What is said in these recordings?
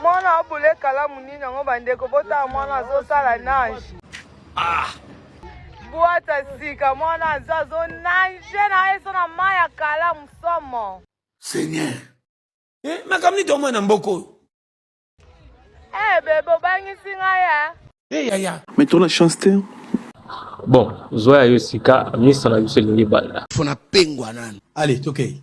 mwana obule kalamu nini yango bandeko botala mwana azosala nage ah. bwata sika mwana aza azonage na ye so na mai ya kalamu somo seigneur eh, makambo nito omwana mboka oyo eh, bebe obangisi ngai ya eh? eh, yaya mais tona chance te bon zwa ya yo sika misa na biso elingi banda fona pengwa nanu ale tokei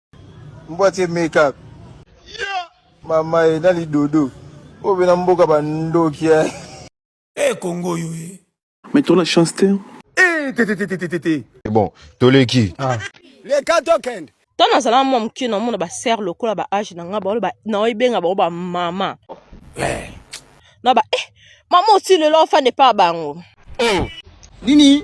Mbwa tie make up. Yeah. Mama e na lidodo. Oyo bena mboka ba ndoki ya. Eh Congo yo e. Mais tu la chance te. Eh te te te te te te. Bon, toleki. Ah. Les gars token. Tant nazala mwa moke na mona ba sœur lokola ba âge na nga ba ba na obenga ba ba mama. Eh. Na ba eh mama aussi le l'enfant n'est pas bango. Oh. Nini?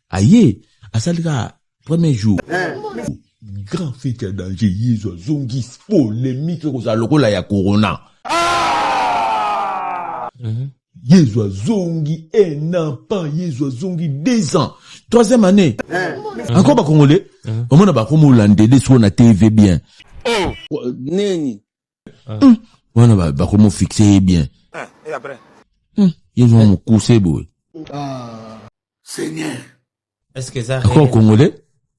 aye asali ka premier jour eh. grand fete ya danger yezu azongi polemike ekozala lokola ya corona ah! mhm. yezu azongi un an pas yezu azongi deux ans troisième année eh. encore bakongole mhm. omona bakomi olandede sikoyo na tv bien oh. nini hmm. wana bakomi ofixe ye bien hmm. ye zwa mokuse boye ako congolais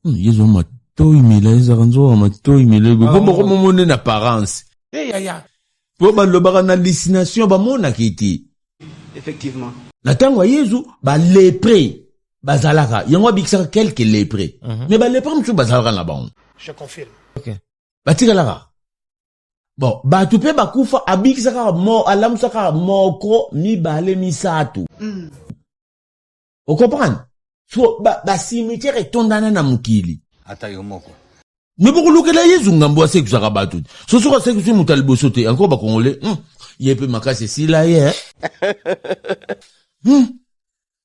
hmm, ye zwa matoi mila ezaka nzoka matoi mila boye po boko momone na parence po balobaka na hallucination bamonaka ete effectivement na ntango ya yezu balepre bazalaka yango abikisaka quelque lepre mhm. mais balepre mosusu bazalaka na bango batikalaka bon bato mpe bakufa abikisaka mo alamusaka moko mibale misato mm. okomprendre so basimitiere ba etondana na mokili ata yo moko me bokolukela yezu ngambo asekwisaka bato te so soki asekwisi moto ya liboso te yanko bakongole hmm. ye mpe makasi esila ye eh? hmm.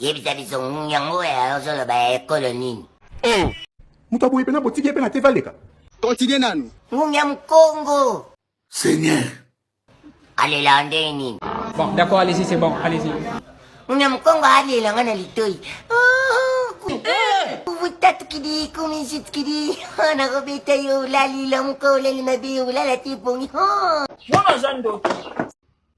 yebisa biso yango ya ozoloba ya ekolo nini oh. moto aboye mpena botiki ye mpe na te valeka kontinue nanu ngungi ya mkongo seigneur alela ndenge nini bon d'accord allez-y c'est bon allez-y ngungi ya mkongo alela nga na litoi vutatukidi kumizitukidi nakobeta yo olalila moko olali mabe olala te ebongi wana aza ndoki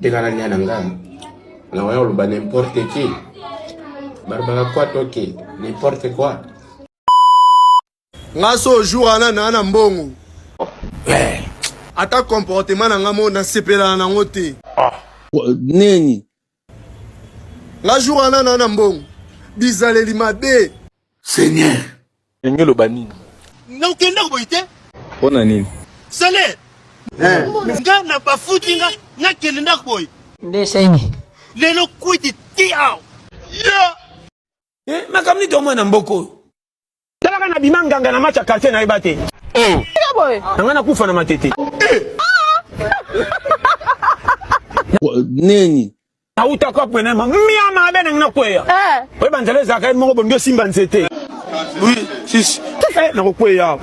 tekana lia na nga na waya oloba n'importe qui barbaka kwa toke n'importe quoi nga so jour wana naa na mbongo eh. ata comportement na nga mo nasepelana nango te ah. nini nga jour wana na na mbongo bizaleli mabe seigneur ndenge oloba nini nga okendaka boye te mpo na nini salaire eh. nga na bafuti nga nakende ndako boye nde seni lelo kwiti ti awa eh, makambo nito mwana mboka oyo Tala kana bima nganga na match ya quartier na yeba te. Oh. Nanga na kufa na matete. Neni? Auta kwa pwena ma mia ma bena ngina kweya. Eh. Oyeba nzela ezaka ye moko bondo simba nzete. Oui, sisi. Eh, na kokweya.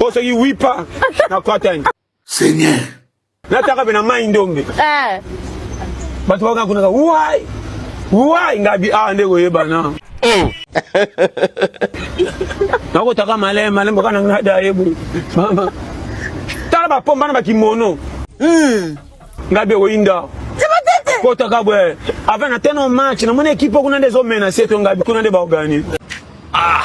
Osoki wipa na kwatani. Seigneur. Nataka pe na mai ndombe. Eh. Bato bakaka kunaka wai wai ngabi awa ah, nde koyebana. Oh. Nakotaka malema malema kana nga da yebo. Mama. Tala ba pomba na ba kimono. Hmm. Ngabi oyinda. Kotaka bwe. Avant na teno match na mona equipe kuna nde zo menacer to ngabi kuna nde ba organiser. Ah.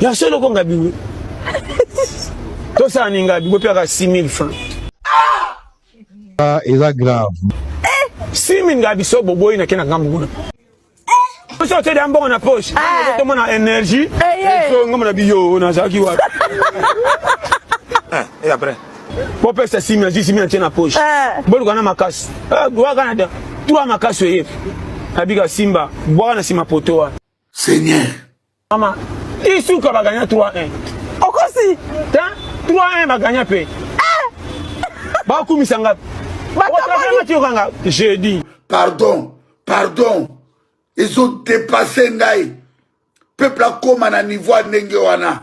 Ya solo ko ngabi we. To sa ni ngabi ko pia ka 6000 francs. Ah, eza grave. Eh, 6000 ngabi so boboyi na kena ngambu kuna. Eh. Oso te da mbongo na poche. Ah. To mona energie. Eh, eh. So ngamo na biyo na zaki wa. Eh, et après. Bo pesa 6000, 6000 tena poche. Eh. Bo lukana makasi. Eh, wa kana da. Tua makasi oyebi. abika simba bwaka na nsima poto wana Seigneur. Mama, isuka ba gagna 3-1. Okosi. Hein? 3-1 ba gagna pe. Eh! Ba kumisa ngapi? Ba kamani ti okanga jeudi. Pardon, pardon. Ils ont dépassé ngai. Peuple akoma na niveau ndenge wana.